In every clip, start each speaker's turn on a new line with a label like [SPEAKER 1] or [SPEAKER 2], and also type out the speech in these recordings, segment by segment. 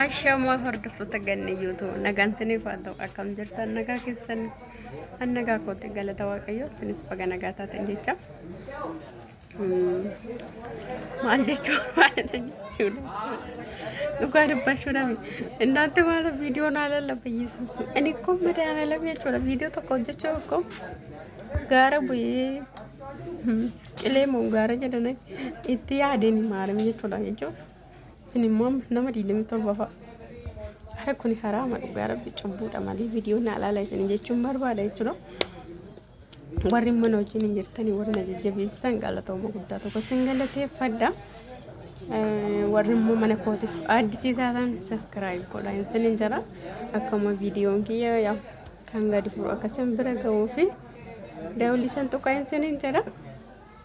[SPEAKER 1] Ashamaa hordoftoota ganna yoo ta'u nagaan siniif haa ta'u akkam jirtan nagaa keessan an nagaa kootti galata waaqayyoo sinis baga nagaa taatan jecha. maal jechuun baay'ata jechuudha. Dhugaa dubbachuudhaaf innaatti maala viidiyoo naa lallaba Yesuus. Ani ko madaala lama jechuudha viidiyoo tokko hojjechuu ko gaara bu'ee qilee moo gaara jedhan itti yaadeen maalam jechuudha jechuun isin immoo nama 27 fa'a. Hara kun haraama dhugaa rabbi cubbuudha malee viidiyoo naa laala isin jechuun barbaada jechuudha. warri mana wajjin hin jirtanii warri na jajjabeessitan galatooma guddaa tokko sin galateeffadha. Warri immoo mana kootiif addisii taatan saskiraayib godha intin hin jira akkuma viidiyoon kiyya yaa kan gadi furu akkasiin bira ga'uu fi daawwilisan tuqaa insin hin jira.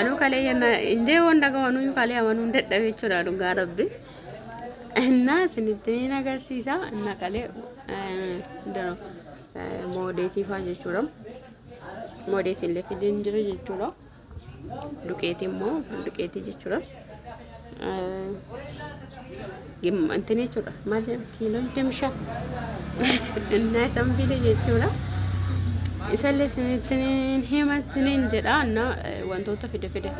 [SPEAKER 1] Anuu kalee yana indee waan dhagawanuu kalee amanuu hin dadhabe jechuudha dhugaa rabbi. Innaa isinitti hin agarsiisa innaa kalee moodeetii faa jechuudha. Moodees illee fideen jira jechuudha. Duqeetii immoo duqeetii jechuudha. እንትን jechuudha maal jedhama kiiloo digdami shan innaa isan bile jechuudha isallee isinittin hima isinin jedha innaa wantoota fide fide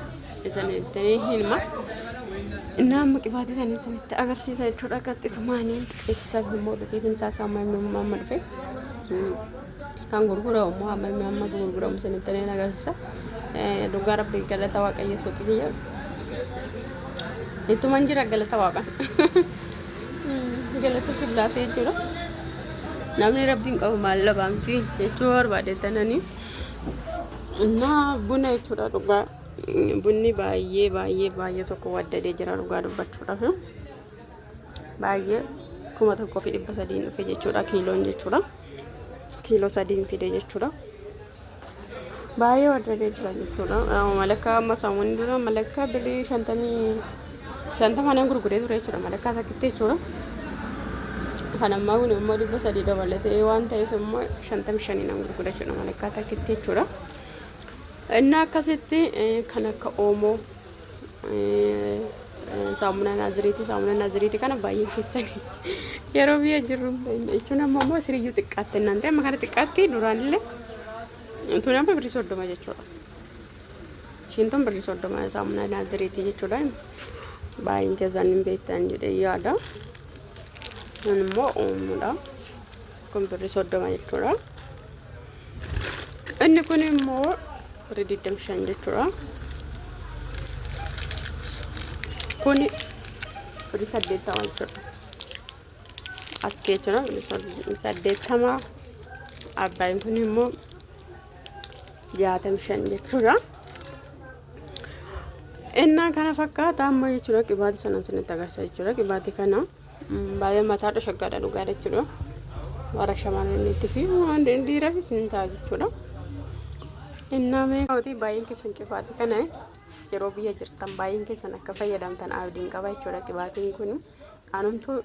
[SPEAKER 1] isinittin hima innaa amma qibaatii isaanii isinitti agarsiisa jechuudha qaxxisumaaniin ittisa immoo dhufee timsaa isaa amma amma dhufe kan gurguramu immoo amma inni amma gurguramu isinitti illee agarsiisa. Dhugaa rabbi galata waaqayyo suuqii kiyya. Ittuman jira galata waaqan. Galata sillaasee jechuudha. Namni rabbiin qabu maal dhabaan fi jechuu barbaade tananii. Innaa buna jechuudha dhugaa. Bunni baay'ee baay'ee baay'ee tokko waddadee jira dhugaa dubbachuudhaaf. baay'ee kuma tokkoo fi dhibba sadiin dhufe jechuudha kiiloon jechuudha kiiloo sadiin fide jechuudha baay'ee warrabee jira jechuudha malakkaa amma saamuun dura malakkaa birrii shantamii shantamaan hin gurguree ture jechuudha malakkaa takkitti jechuudha kan ammaa kun immoo dhibba sadii dabalatee waan ta'eef immoo shantamii shaniin hin gurgure jechuudha malakkaa takkitti jechuudha inni akkasitti kan akka oomoo saamunaa naaziriiti saamunaa naaziriiti kana baay'ee keessanii yeroo biyya jirru jechuun amma immoo siriyyuu xiqqaatti naan ta'e amma kana xiqqaatti duraan illee tun amma birrii soddoma jechuudha. Ishiin tun birrii soddoma saamunaa naaziriiti jechuudha. Baay'een keessan hin beektan jedhee yaada. Kun immoo uumudha. kun birri soddoma jechuudha inni kun immoo birri digdam shan jechuudha kun birri saddeettama jechuudha as jechuudha birri saddeettama abbaayin kun immoo jaatam shan jechuudha innaa kana fakkaata amma jechuudha qibaati sanan sinitti agarsiisa jechuudha qibaati kana Baay'ee mataadha shaggaadha dhugaa jechuudha. Warra shamarraniitti fi dhiirafis ni ta'a jechuudha. Innaa mee kootii baay'een keessan qifaatii kana yeroo biyya jirtan baay'een keessan akka fayyadamtan abdiin qaba jechuudha qibaatiin kun. Anumtuu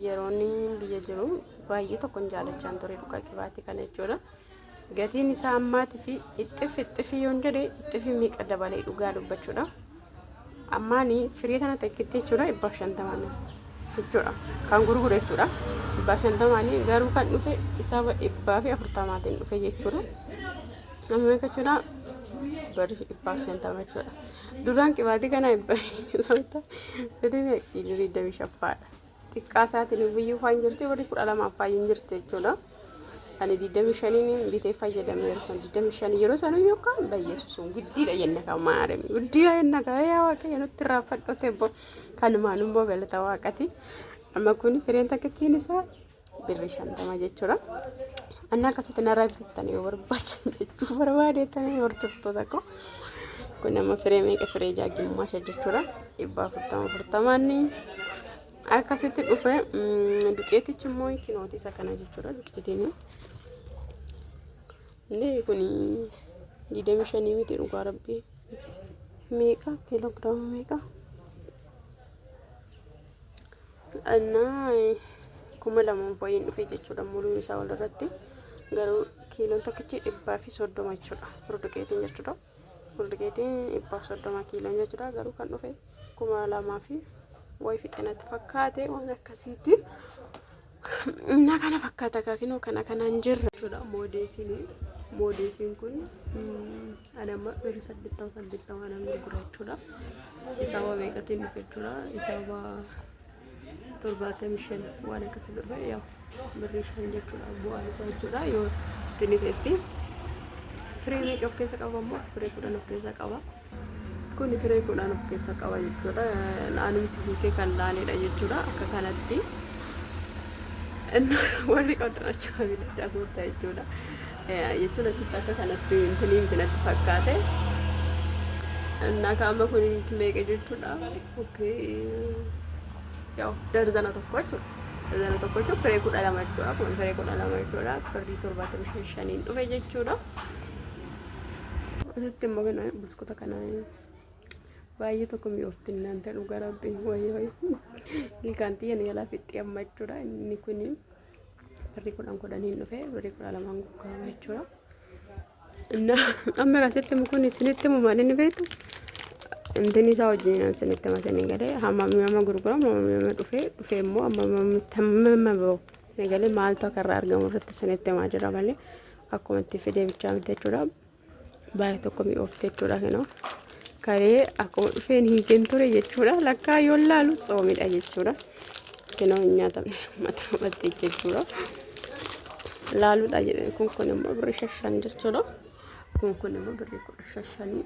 [SPEAKER 1] yeroon biyya jiru baay'ee tokkon jaalachaan ture dhugaa qibaatii kana jechuudha. Gatiin isaa ammaati fi ixxif ixxifii yoon jedhe ixxifii meeqa dabalee dhugaa dubbachuudha. Ammaani firii tana takkitti jechuudha dhibbaa shantamaan jechuudha. Kan gurgure jechuudha. Dhibbaa shantamaan garuu kan dhufe isaaba dhibbaa fi afurtamaatiin dhufe jechuudha. Amma meeqa jechuudha? Bari dhibbaa shantama jechuudha. Duraan qibaatii kana dhibbaa shantama. Fedhii meeqa? Digdamii shaffaadha. xiqqaa isaatiin iyyuu faan jirti warri kudha lama faan hin jirti jechuudha. Ani digdami shaniin bitee fayyadameera kan digdami shanii yeroo sana iyyuu kan bayyeessuun guddiidha jenna kan maarame guddiidha jenna kan yaa waaqayyo nutti raafadhote bo kan maalummoo galata waaqati amma kun fireen takkittiin isaa birri shantama jechuudha. Anna akkasitti narraa bitattan yoo barbaadan jechuu barbaadeettan hordoftoota koo. Kun amma firee meeqa firee jaajjummaa shan jechuudha. Dhibba afurtama afurtamaanni akkasitti dhufe duqeetichi immoo kinooti isa kana jechuudha duqeetiin. Inni kun digdami shanii miti dhugaa rabbii meeqa kiiloogiraama meeqa? Annaa kuma lamaan baay'een dhufe jechuudha muruun isaa wal irratti garuu kiiloon tokkichi dhibbaa fi soddoma jechuudha burduqeetiin jechuudha burduqeetiin dhibbaaf soddoma kiiloon jechuudha garuu kan dhufe kuma lamaa fi wayi fixanatti fakkaate waan akkasiiti na kana fakkaata kaakinoo kana kanaan jirra jechuudha moodeesiin moodeesiin kun mm, Ani amma birri saddeettama saddeettama kanan gurgura jechuudha. Isaa waa meeqatiin dhufe jechuudha. Isaa waa torbaatamii shan waan akkasii dhufe yaa birri shan jechuudha bu'aan isaa jechuudha yoo dinifeetti. Firee meeqa of keessa qaba ammoo firee kudhan of keessa qaba. Kun firee kudhan of keessa qaba jechuudha. Naanumti hiikee kan laaneedha jechuudha akka kanatti. Warri qabdan achuma bitadhaa goota jechuudha. jechuun achitti akka kanatti intini miti natti fakkaate naaka amma kun meeqa jechuudha okay yaw darzana tokko jechuudha darzana tokko jechuun firee kudha lama jechuudha kun firee kudha lama jechuudha firdii torbaatamii shan shaniin dhufe jechuudha asitti immoo kana buskuta kana baay'ee tokko mi'oofti innaan ta'e dhugaa rabbiin wayii wayii ilkaan xiyyan yaalaa fixxee amma jechuudha inni kuni Birrii kudhan kudhaniin dhufe birrii kudha lamaan gurgurama jechuudha. Innaa amma asitti kun isinitti himu maal inni beektu intini isaa wajjin isinitti hima isin galee hamma nama gurguramu hamma nama dhufee dhufee immoo amma amma biroo galee maaltu akka irraa argamu irratti isinitti himaa jira malee akkuma itti fidee bichaa miti jechuudha. Baay'ee tokko mi'oofte jechuudha kinoo. Karee akkuma dhufeen hiikeen ture jechuudha. Lakkaa yoo laalu tsoomidha jechuudha. Kinoo hin nyaatamne mataa mattee jechuudha. Laaluudha jedhee kun kun immoo birrii shashan jechuudha. Kun kun immoo birrii kudha shashanii.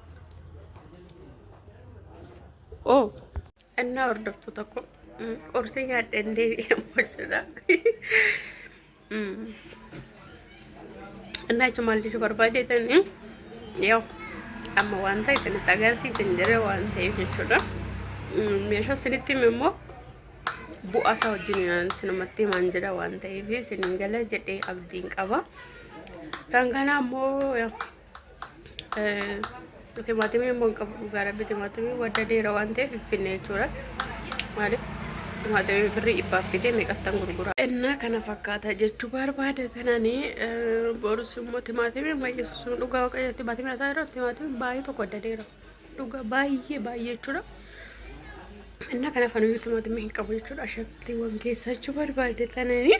[SPEAKER 1] Oh. Annaa hordoftuu tokko qorsii nyaadheen deebi'amu jechuudha. Annaa jechuun maal jechuu barbaadeetan yoo amma waan ta'e isinitti agarsiisan jira waan ta'eef jechuudha. Meeshaa isinitti hime immoo bu'aa isaa wajjin sinumatti himaan jira waan ta'eef isin gala jedhee abdiin qaba. Kan kanaa immoo Timaatimii immoo hin qabu dhugaa rabbi timaatimii wadda deera waan ta'eef hin finne jechuudha. Maaliif timaatimii birrii dhibbaaf fidee meeqattan gurgura. Innaa kana fakkaata jechuu barbaada kanani borus immoo timaatimii amma yesuusun dhugaa waaqayyo timaatimii asaa irra timaatimii baay'ee tokko wadda deera. Dhugaa baay'ee baay'ee jechuudha. Innaa kana fanuyyuu timaatimii hin qabu jechuudha. Ashabtiiwwan keessa jechuu barbaada kanani.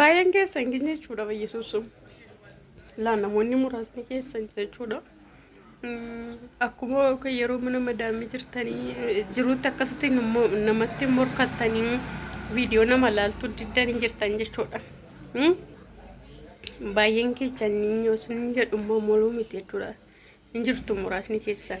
[SPEAKER 1] Baay'een keessa hin geenye jechuudha bayyasuusuun. Laa namoonni muraasni keessa hin jechuudha. Akkuma yeroo mana madaamii jirtanii jiruutti akkasitti namatti morkattanii viidiyoo nama laaltu diddan hin jirtan jechuudha. Baay'een keessanii yoo isin jedhummaa moluu miti jechuudha. Hin jirtu muraasni keessan.